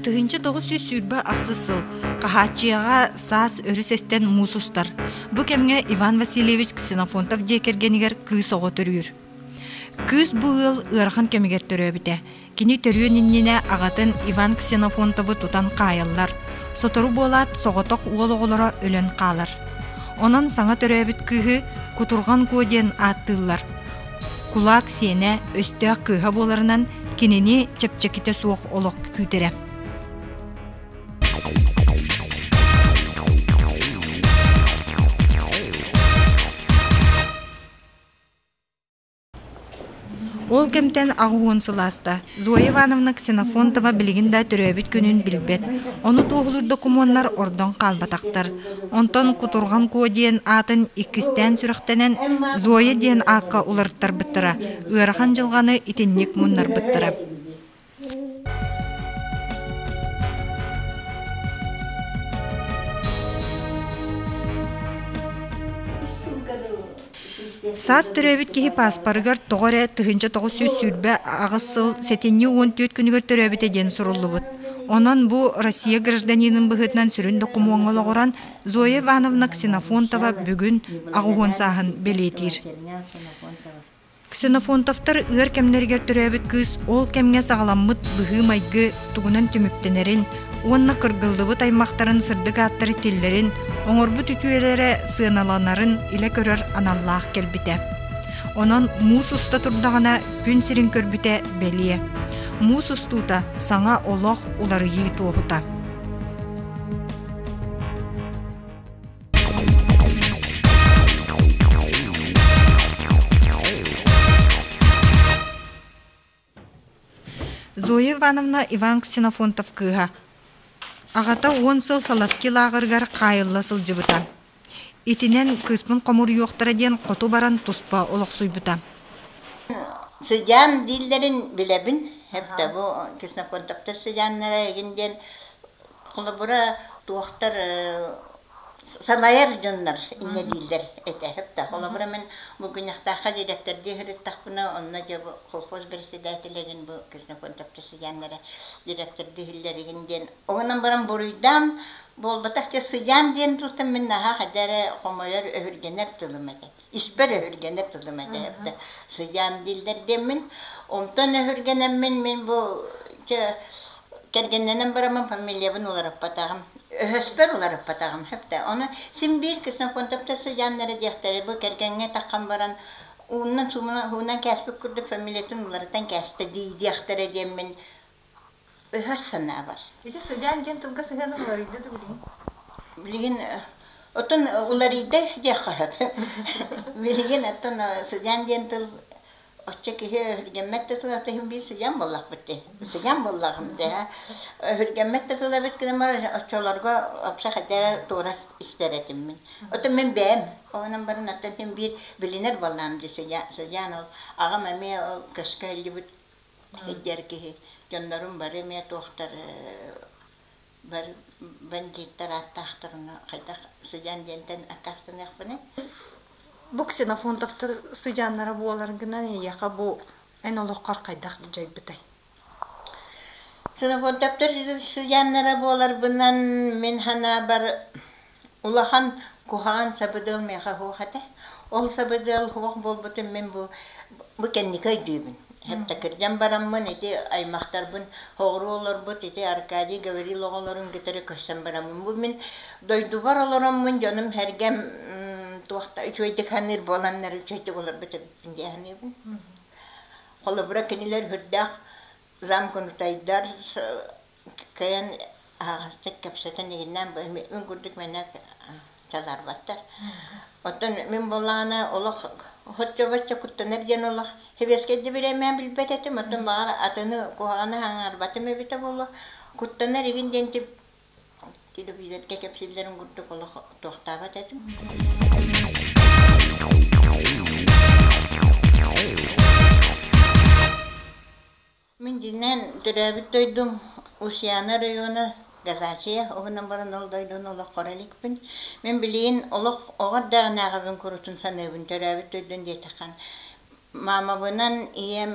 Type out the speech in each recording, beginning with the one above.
Тыһыынча тоҕус сүүс сүүрбэ ахсыс сыл хаһааччыйаҕа саас өрө сестен муус устар. Бу кэмҥэ Иван Васильевич Ксенофонтов дьиэ кэргэнигэр кыыс оҕо төрүүр. Кыыс бу ыал ыарахан кэмигэр төрөөбүтэ. Кини төрүөн иннинэ аҕатын Иван Ксенофонтовы тутан хаайаллар, сотору буолаат соҕотох уол оҕолоро өлөн хаалар. Онон саҥа төрөөбүт кыыһы Кутурҕан Куо диэн ааттыыллар. Кулаак сиэнэ, өстөөх кыыһа буоларынан кинини чэпчэкитэ суох олох күүтэрэ. Ол кэмтэн аҕыс уон сыл ааста. Зоя Ивановна Ксенофонтова билигин да төрөөбүт күнүн билбэт. Ону туоһулуур докумуоннар ордон хаалбатахтар. Онтон Кутурҕан Куо диэн аатын иккистээн сүрэхтэнэн Зоя диэн аакка уларыттарбыттара, ыарахан дьылҕаны итинник муннарбыттара. Саас төрөөбүт киһи пааспарыгар тоҕо эрэ тыһыынча тоҕус сүүс сүүрбэ аҕыс сыл сэтинньи уон түөрт күнүгэр төрөөбүтэ диэн суруллубут. Онон бу Россия гражданинын быһыытынан сүрүн докумуоҥҥа олоҕуран Зоя Ивановна Ксенофонтова бүгүн аҕыһон сааһын бэлиэтиир. Ксенофонтовтар ыар кэмнэригэр төрөөбүт кыыс ол кэмҥэ саҕаламмыт быһыы-майгы тугунан түмүктэнэрин уонна кыргыллыбыт аймахтарын сырдык ааттары тиллэрин, оҥорбут үтүөлэрэ сыаналанарын илэ көрөр аналлаах кэлбитэ. Онон муус уста турдаҕына күн сирин көрбүтэ бэлиэ. Муус устуута саҥа олох уларыйыы туоһута. Зоя Ивановна Иван Ксенофонтов кыыһа. Аҕата уон сыл Салавки лааҕырыгар хаайылла сылдьыбыта. Итинэн кыыспын хомуруйуохтара диэн хоту баран туспа олохсуйбута. Сыдьаан дииллэрин билэбин. Бу Ксенофонтовтар сыдьааннара игин диэн Холобура, туохтар санайар дьоннор инньэ дииллэр этэ. Да, холобура мин Булгунньахтаахха дириэктэрдии сырыттахпына, онно дьэ бу колхоз бэрэссэдээтэлигин бу Кисноконтопча сыдьааннара дириэктэрдии иһиллэригин диэн. Ол гынан баран буруйдаам, буолбатах дьэ сыдьаан диэн тылтан мин наһаа хайда эрэ хомойор, өһүргэнэр тылым этэ. испэр өһүргэнэр тылым этэ сыдьаан дииллэр диэммин онтон өһүргэнэммин мин бу кэргэннэнэн бараммын фамилиябын уларыппатаҕым өһөспөр уларыппатаҕым хепте ону син биир ксеноконтопта сыдьааннара диэхтэрэ бу кэргэҥҥэ таххан баран ууннан суумунан кээспит курдук фамилиятын уларытан кээстэ дии диэхтэрэ диэммин өһөр санаабар. Ити сыдьаан диэн тылга сыһыанын уларыйда да билигин? Билигин оттон уларыйда диэххэ сөп. Билигин оттон сыдьаан диэн тыл оччо киһи өһүргэммэт да тыл ата иһин биир сыдьаан буоллахпыт дии. Сыдьаан буоллаҕым дии. Өһүргэммэт да тыл эбит гынан бар оччолорго вообще хайда эрэ туора истэр этим мин. Оттон мин бэйэм оҕонон баран оттон мин биир билинэр буоллаам дии сыдьаан сыдьаан ол аҕам эмиэ ол көскө илдьибит Сылдьар киһи дьоннорум бары эмиэ туохтар бары бандьыыттар ааттаахтарына хайдах сыдьаан диэнтэн аккаастаныахпыный Бу ксенофонтовтар сыдьааннара буолар гынан эйиэхэ бу эн олоххор хайдах дьайбытай? Ксенофонтовтар сыдьааннара буоларбынан мин санаабар Улахан куһаҕан сабыдыал миэхэ суох этэ. Ол сабыдыал суох буолбутум мин бу бу кэнники өйдүүбүн. Һэптакырдьан бараммын ити аймахтарбын соҕуруу олорбут ити Аркадий говорил оҕолорун кытары көрсөн бараммын бу мин дойдубар олороммун дьонум сэргэм туохта үчүгэйдик саныыр буоланнар үчүгэйдик олорбут эбиппин дии саныыбын. Холобура кинилэр үрдээх замкнутайдар кыайан аһаҕастык кэпсэтэн игиннээн мин курдук мэнэ дьаларбаттар оттон мин буоллаҕына олох хоччо-боччо куттанар диэн олох сэбиэскэйдик бириэмэм билбэт этим оттон баҕар атыны куһаҕаны аҥаарбатым эбитэ буолуо куттанар игин диэн телевизорга кэпсииллэрин курдук олох туохтаабат этим Мин дьиҥинэн төрөөбүт дойдум Устьяна оройуона Газачия уһунан баран ол дойдуну олоххо иликпин. Мин билигин олох оҕо эрдэҕинээҕибин курутун саныыбын төрөөбүт дойдун диэтэххэ маамабынан ийэм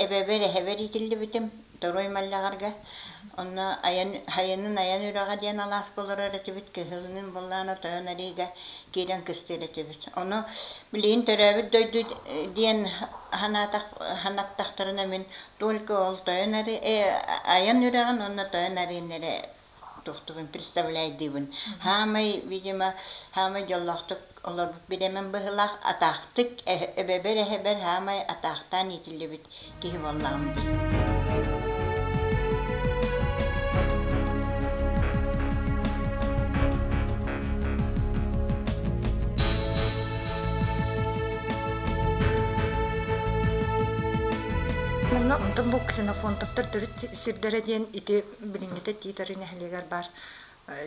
эбэбэр эһэбэр иитиллибитим Торуй Маллаҕарга онно айанын айан үрэҕэ диэн алааска олорор этибит кыһылын буллаана тойон ариыга киирэн кыстыыр этибит ону Билигин төрөөбүт дойду диэн санаатах санаттахтарына мин только ол тойон ары айан үрэҕин уонна тойон арыыннары тухтугун представляйдыыбын хаамай видимо хаамай дьоллоохтук олорбут бирэмин быһылаах атаахтык эбэбэр эһэбэр хаамай атаахтаан иитиллибит киһи буоллаҕым дии Мунна онтон бу ксенофонтоптор төрүт сирдэрэ диэн ити билиҥҥитэ Титары нэһилиэгэр баар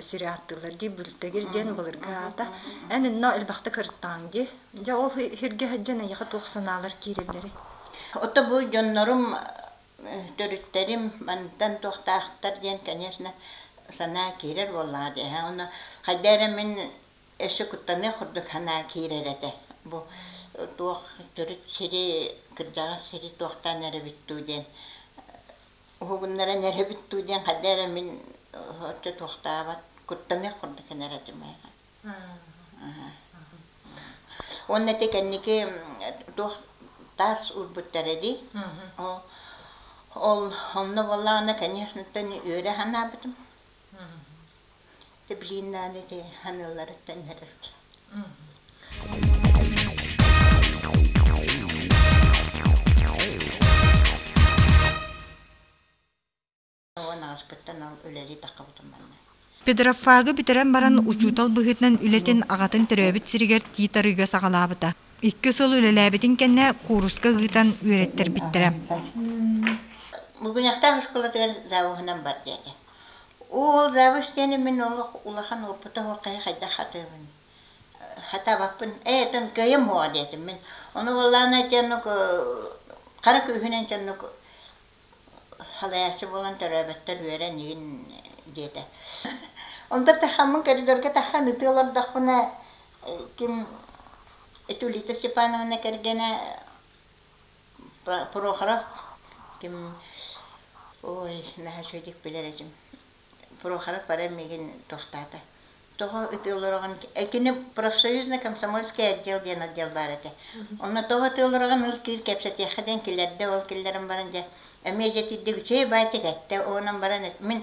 сири ааттыыллар дии Бүлтэгир диэн былыргы аата эн инно элбэхтэ кырыттаҕыҥ дии дьэ ол сиргэ сылдьан эйиэхэ туох санаалар киирэллэрий отто бу дьоннорум төрүттэрим мантан туохтаахтар диэн конечно санаа киирэр буоллаҕа дии оны хайда эрэ мин өссө куттаныах курдук санаа киирэр этэ бу туох төрүт сири кырдьаҕас сири туохтаан эрэбит дуу диэн уһугуннаран эрэбит дуу диэн хадда эрэ мин отто туохтаабат куттаныах курдук гынар этим уонна ити кэнники туох таас урбуттара дии ол онно буоллаҕына конечно үөрэ санаабытым Дублиннаан ити аныыларыттан көрөргө Педрофагы бүтэрэн баран учуутал быһыытынан үлэтин аҕатын төрөөбүт сиригэр тиит арыыга саҕалаабыта. Икки сыл үлэлээбитин кэннэ кууруска ыытан үөрэттэрбиттэрэ. Бугуньахтаах оскуолатыгар завуһунан бар диэтэ. Ол завуш диэни мин олох улахан уопута суоххайа хайдах хатыыбын. Хатабаппын. Ээ, тон кыайым буоҕа диэтим мин. Ону буоллаана дьоннук хара күүһүнэн дьоннук Халайааччы буолан төрөөбөттөр үөрэн иһин диэтэ. Онто тахаммын коридорга тахан ытыы олордохпуна ким Итулита Степановна кэргэнэ Прохоров ким ой наһаа үчүгэйдик билэр этим Прохоров баран миигин тохтоото тоҕо ытыы олороҕун этини профсоюзнай комсомольский отдел диэн отдел баар этэ онно тоҕо ытыы олороҕун ол киир кэпсэтиэххэ диэн килэрдэ ол киллэрэн баран дьэ эмиэ дьэтийдик үчүгэй баайтик эттэ оонон баран мин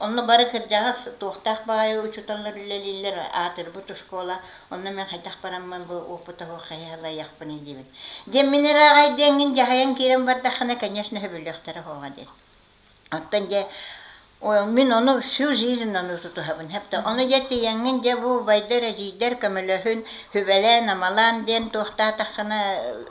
онно бары кырдьаҕас туохтаах баҕайы учууталлар үлэлииллэр аатырбыт оскуола онно мен хайдах бараммын бу опытаҕа хайалайахпыный диибит дьэ мин ыраҕай диэҥҥин дьаһайан киирэн бардаххына конечно сөбүлүөхтэрэ хоҕа диэн Оттон дьэ мин ону всю жизнь ону тутуһабын. Хэпте ону дьэ тиийэҥҥин дьэ бу убайдар, эдьиийдэр көмөлөһүн, сүбэлээн, амалаан диэн туохтаатаххына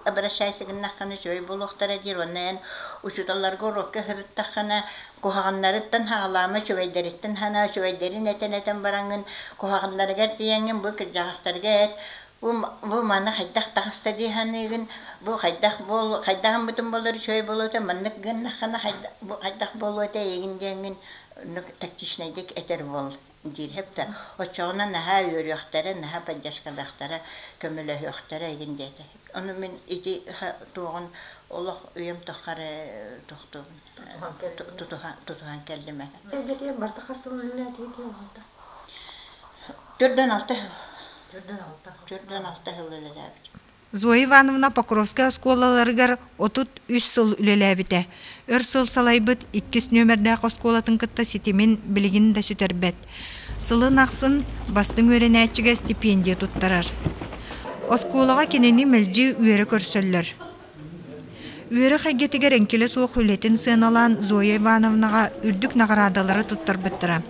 обращайся гыннаххына үчүгэй буолуохтара диир уонна эн учууталларга уруокка сырыттаххына куһаҕаннарыттан саҕалаама, үчүгэйдэриттэн санаа, үчүгэйдэрин этэн этэн бараҥҥын куһаҕаннарыгар тиийэҥҥин бу кырдьаҕастарга эт Бу маны хайдах таҕыста дии саныыгын? Бу хайдах буол хайдах гыммытым буолар үчүгэй буолуота маннык гыннаххына хайдах бу хайдах буолуота эйигин диэҥҥин оннук тактичнайдык этэр уол диир һэптэ оччоҕуна наһаа үөрүөхтэрэ наһаа поддержкалыахтара көмөлөһүөхтэрэ игин диэтэ ону мин ити туоҕун олох үйэм туххары тохтуубун тутуһан кэллим Эдьиэтигэр барта хас сылынан киһи аҕалта? Төрдөн алта Төрдөн алта Төрдөн алта сыл үлэлээбит. Зоя Ивановна Покровскай оскуолаларыгар отут үс сыл үлэлээбитэ. Өр сыл салайбыт иккис нүөмэрдээх оскуолатын кытта ситимин билигин да сүтэрбэт. Сылын ахсын бастыҥ үөрэнээччигэ стипендия туттарар. Оскуолаҕа кинини мэлдьи үөрэ көрсөллөр. Үөрэх эйгэтигэр эҥкилэ суох үлэтин сыаналаан Зоя Ивановнаҕа үрдүк наҕараадалары туттарбыттара.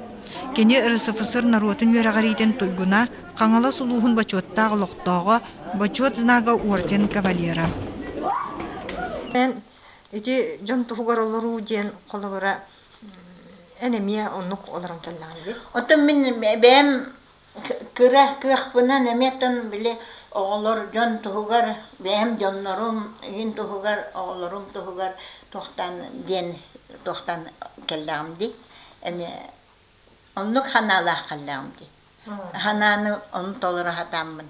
Кини РСФСР норуотун үөрэҕириитин туйгуна, Хаҥалас улууһун бочуоттаах олохтооҕо, бочуот знага орден кавалера. Ити дьон туһугар олоруу диэн холобура эн эмиэ оннук олорон кэллэҕим дии. Оттон мин бэйэм Кыра кыахпынан эмиэ тон били оҕолор дьон туһугар, бэйэм дьоннорум иһин туһугар, оҕолорум туһугар туохтан диэн туохтан кэллэҕим дии эмиэ оннук санаалаах кэллэҕим дии. Санааны ону толоро сатааммын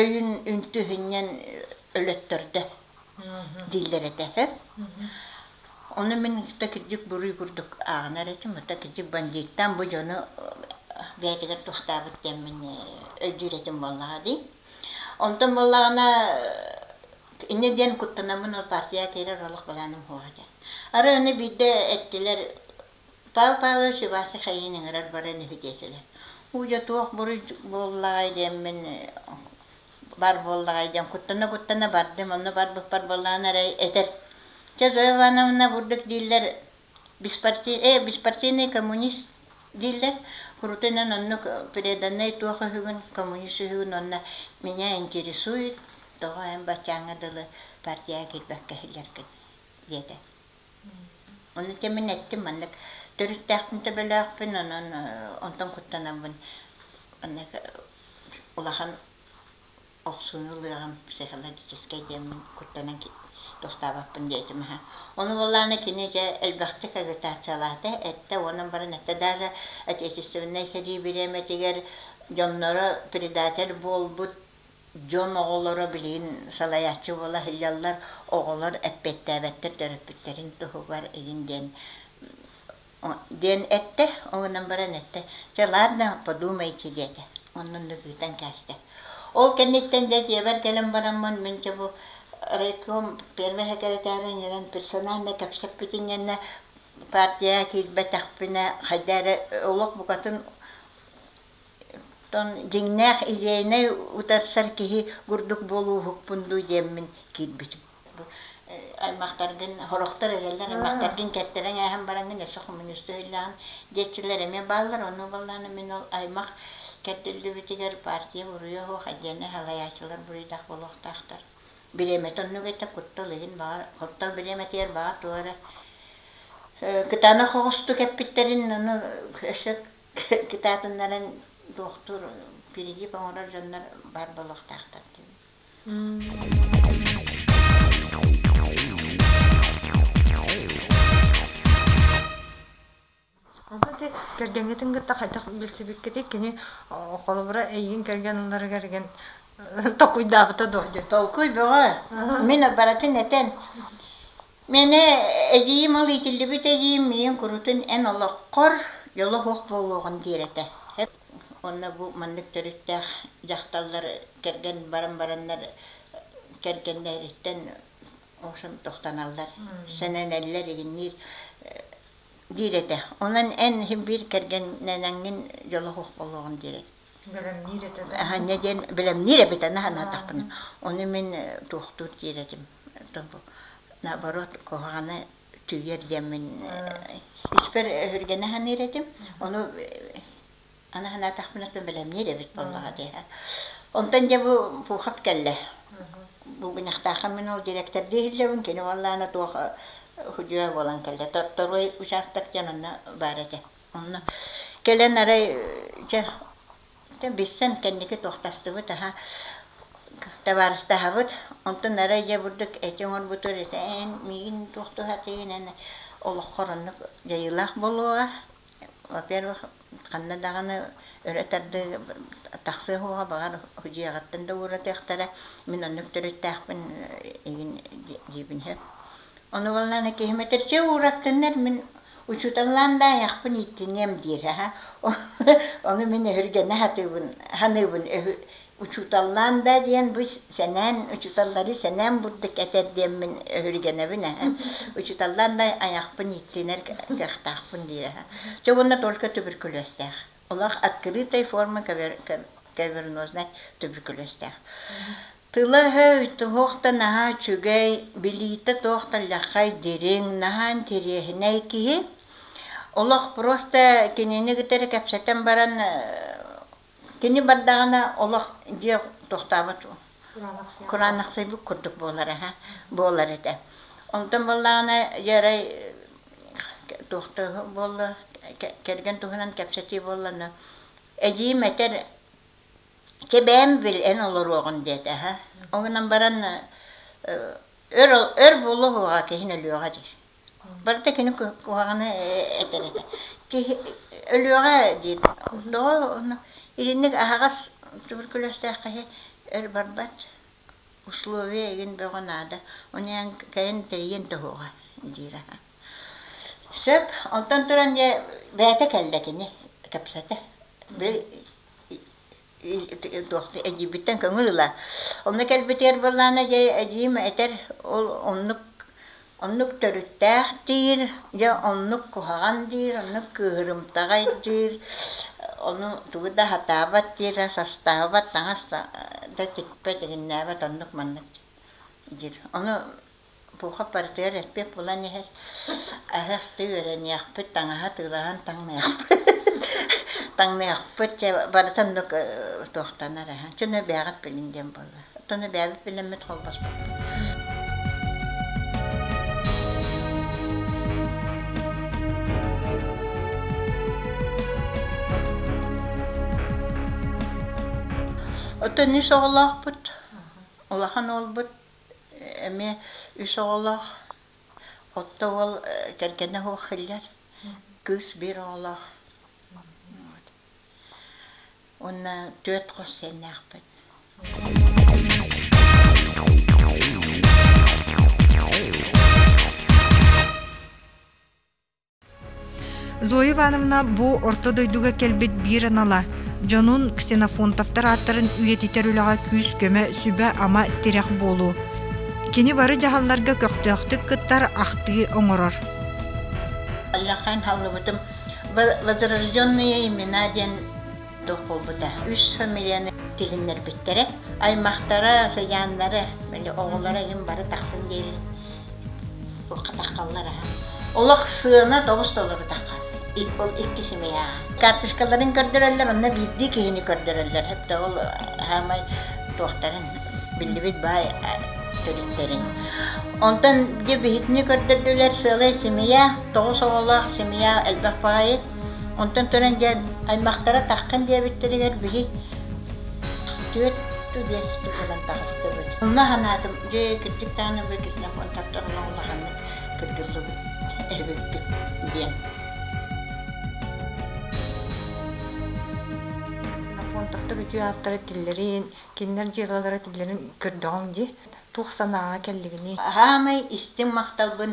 өйүн үнтүһүнньэн өлөттөрдө дииллэр этэ үһү. Ону мин тута кирдьик буруй курдук ааҕынар этим. Тута кирдьик бандьыыттаан бу дьону бэйэтигэр тустаабыт диэммин өйдүүр этим буоллаҕа дии. Онтон буоллаҕына инньэ диэн куттанаммын ол партияҕа киирэр олох былааным суох этэ. Арай ону биирдэ эттилэр Таал Павлович Вася Хайыын ыҥырар баран үһүтиэтилэр. Ууйа туох буруй буоллаҕай диэммин бар буоллаҕай диэн куттана-куттана бардым. Онно барбыппар буоллаҕына эрэ этэр. Дьэ Зоя Ивановна бурдук дииллэр беспарти... э беспартийный коммунист дииллэр. Курутунан оннук преданнай туох үһүгүн, коммунист үһүгүн уонна меня интересует, тоҕо эн баччааҥҥа дылы партияҕа киирбэккэ иһиллэргин диэтэ. Ону итим мин эттим маннык төрүттээхпин төбөлөөхпүн, онон онтон куттанабын. Онно улахан охсууну ылыаҕым психологическай диэммин куттанан туохтаабаппын диэ этим аһа. Ону буоллаҕына кини дьэ элбэхтик агитациялаата, эттэ уонун баран эттэ даже отечественнай сэрии бириэмэтигэр дьонноро предатель буолбут Дьон оҕолоро билигин салайааччы буола сылдьаллар, оҕолор эппиэттээбэттэр төрөппүттэрин туһугар игин диэн диэн эттэ. Ол гынан баран эттэ, чэ ладно, подумайте диэтэ. Оннун да кыытан кээстэ. Ол кэнниттэн дьэ дьиэбэр кэлэн бараммын мин чэ бу райком первый секретарин иһинэн персонально кэпсэппитин кэннэ партия киирбэтэхпинэ хайда эрэ олох букатын дьиҥнээх идейнай утарсар киһи курдук буолууһукпун дуу диэммин киирбитим аймахтаргын сорохтор эдэллэр аймахтаргын кэртэрэн ааһан бараҥҥын өссө хомуньуусту өйлөөн диэччилэр эмиэ бааллар ону баллаан мин ол аймах кэрдиллибитигэр партия буруйа суох отдельный салайааччылар буруйдаах буолуохтаахтар бириэмэтэ оннук этэ куттал иһин баҕар куттал бириэмэтигэр баҕар тугу эрэ кытаанах оҕустук эппиттэрин ону өссө кытаатыннаран доктор перегиб оҥорор дьоннор баар буолуохтаахтар кэргэҥҥитин кытта хайдах билсибиккитий кини холобура эйигин кэргэн ылларыгар эргэн толкуйдаабыта дуо толкуй бөҕө мин барытын этэн Мээнэ эдьиийим ол иитиллибит эдьиийим миигин куруутун эн олоххор дьоло суох буолуоҕун диир этэ. Уонна бу маннык төрүттээх дьахталлар кэргэн баран бараннар кэргэннэриттэн охсум тохтоналлар, сэнэнэллэр игинниир диир этэ. Онон эн биир кэргэннэниҥҥин дьоло суох буолуоҕун диир этэ. Бэлэмниир этэ да. Аһынньа диэн бэлэмниир эбитэ санаатахпына, ону мин туохтуур диир этим. Наоборот, куһаҕаны түүйэр диэммин испэр өһүргэнэ саныыр этим. Ону аны санаатахпына бэлэмниир эбит буоллаҕа диэһэ. Онтон дьэ бу пуухап кэллэ. Бу гыньахтаахха мин ол дириэктэрдии иһиллэбин, кини уоллаана туох судьуйа буолан кэллэ. Торой учаастак диэн онно баар этэ. Онно кэлэн арай дьэ дьэ билсэн кэнники туохтастыбыт аха табаарыстаһабыт онтун арай дьэ бурдук эти оҥорбутугар ити эн миигин туох туһатыгын эн олоххор оннук дьайыылаах буолуоҕа во-первых ханна даҕаны өрө тардыы тахсыа суоҕа баҕар дьиэҕиттэн да ууратыахтара мин оннук төрүттээхпин игин диэбин сөп Ону ылынан ити мэтрдьэ уураттыннар мин учууталлаан да айахпын ииттиниэм диэри аһа ону мин өһүргэнэ сатыыбын саныыбын учууталлаан да диэн бу сэнээн учууталлары сэнээн бурдук этэр диэммин өһүргэнэбин аһа учууталлаан да айахпын ииттинэр кыахтаахпын диир аһа чэ уонна только туберкулезтээх олох открытой формы кавернознай туберкулезтээх Тыла-өһө туох да наһаа үчүгэй, билиитэ туох да лэххэй, дириҥ, наһаа интириэһинэй киһи. Олох просто кинини кытары кэпсэтэн баран кини бардаҕына олох диэ тохтообот кураанахсыйбыт курдук буолар аһа буолар этэ. Онтон буоллаҕына дьэ арай туох да буолла кэргэн туһунан кэпсэтии буолла да эдьиийим этэр Чэ бэйэм билэн олоруоҕун диэтэ аһа. Ол гынан баран өр өр буолуо уһуга киһини өлүөҕэ дии. Барыта кини куһаҕаны этэр этэ. Киһи өлүөҕэ диир. Доҕор онно итинник аһаҕас туберкулезтаах киһи өр барбат условие игин бөҕө наада. Ону эн кэлэн тэрийэн тоһуоҕа диир аһа. Сөп. Оттон туран дьэ бэйэтэ кэллэ кини кэпсэтэ. Били эдьиийбиттэн көҥүл ыла. Онно кэлбитигэр былаана дьэ эдьиийим этэр ол оннук оннук төрүттээх диир, дьэ оннук куһаҕан диир, оннук кыыһырымтаҕай диир, ону тугу да сатаабат диирэ, састаабат, таҥас да тикпэт, игиннээбэт оннук маннык диир. Ону Пуха барытыгар эппит булан иһэр аһы астыы үөрэниэхпит, таҥаһы атыылаһан таҥныахпыт таҥныахпыт чэ барыта оннук туохтанар аһы чону бэйэҕит билиҥ диэн буолла оттону бэйэбит билиммит холбоспоппут оттон ис оҕолоохпут улахан уолбут эмиэ үс оҕолоох, отто уол кэргэнэ суох иһиллэр, кыыс биир оҕолоох. Уонна түөрт хос сиэннээхпит. Зоя Ивановна бу Орто дойдуга кэлбит биир анала, дьонун Ксенофонтовтар ааттарын үйэтитэр үлэҕэ күүс-көмө, сүбэ-ама, тирэх буолуу. Кини бары дьаһалларга көхтөөхтүк кыттар, ахтыы оҥорор. Аллахтан таллыбытым Возрожденные имена диэн туох буолбута үс фамилияны тилиннэрбиттэрэ аймахтара сыйааннара били оҕолоро игин бары тахсан диэри хатаххаллар аһа олох сыана тоҕус толорутахха ол икки семьяҕа карточкаларын көрдөрөллөр онно биирдии киһини көрдөрөллөр хепте ол хаамай туохтарын биллибит баай төрүттэрин онтон дьэ биһитини көрдөрдүлэр сыалай семья тоҕус оҕолоох семья элбэх баҕайы Онтон төрөн дьэ аймахтара таххын диэбиттэригэр били түөрт биэс буолан таҕыстыбыт. Онно санаатым, дьэ кырдьык даҕаны бу ксенофон тапторуна улаханнык кыргыллыбыт эбиппит диэн. Ксенофон таптар үтүө ааттара тиллэрин, кинилэр дьыалалара тиллэрин көрдөҕүҥ дии. Туох санааҕа кэллигиний? Аһаамай истиҥ махталбын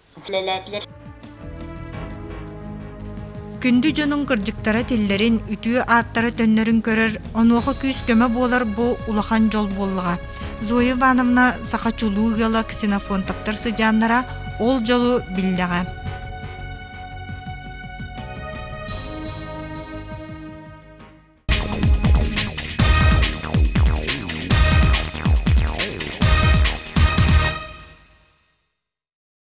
үлэлээтилэр. Күндү дьонуҥ кырдьыктара тиллэрин, үтүө ааттара төннөрүн көрөр, онуоха күүс-көмө буолар бу улахан дьол буоллаҕа. Зоя Ивановна саха чулуу ыала ксенофонтовтар сыдьааннара ол дьолу биллэҕэ.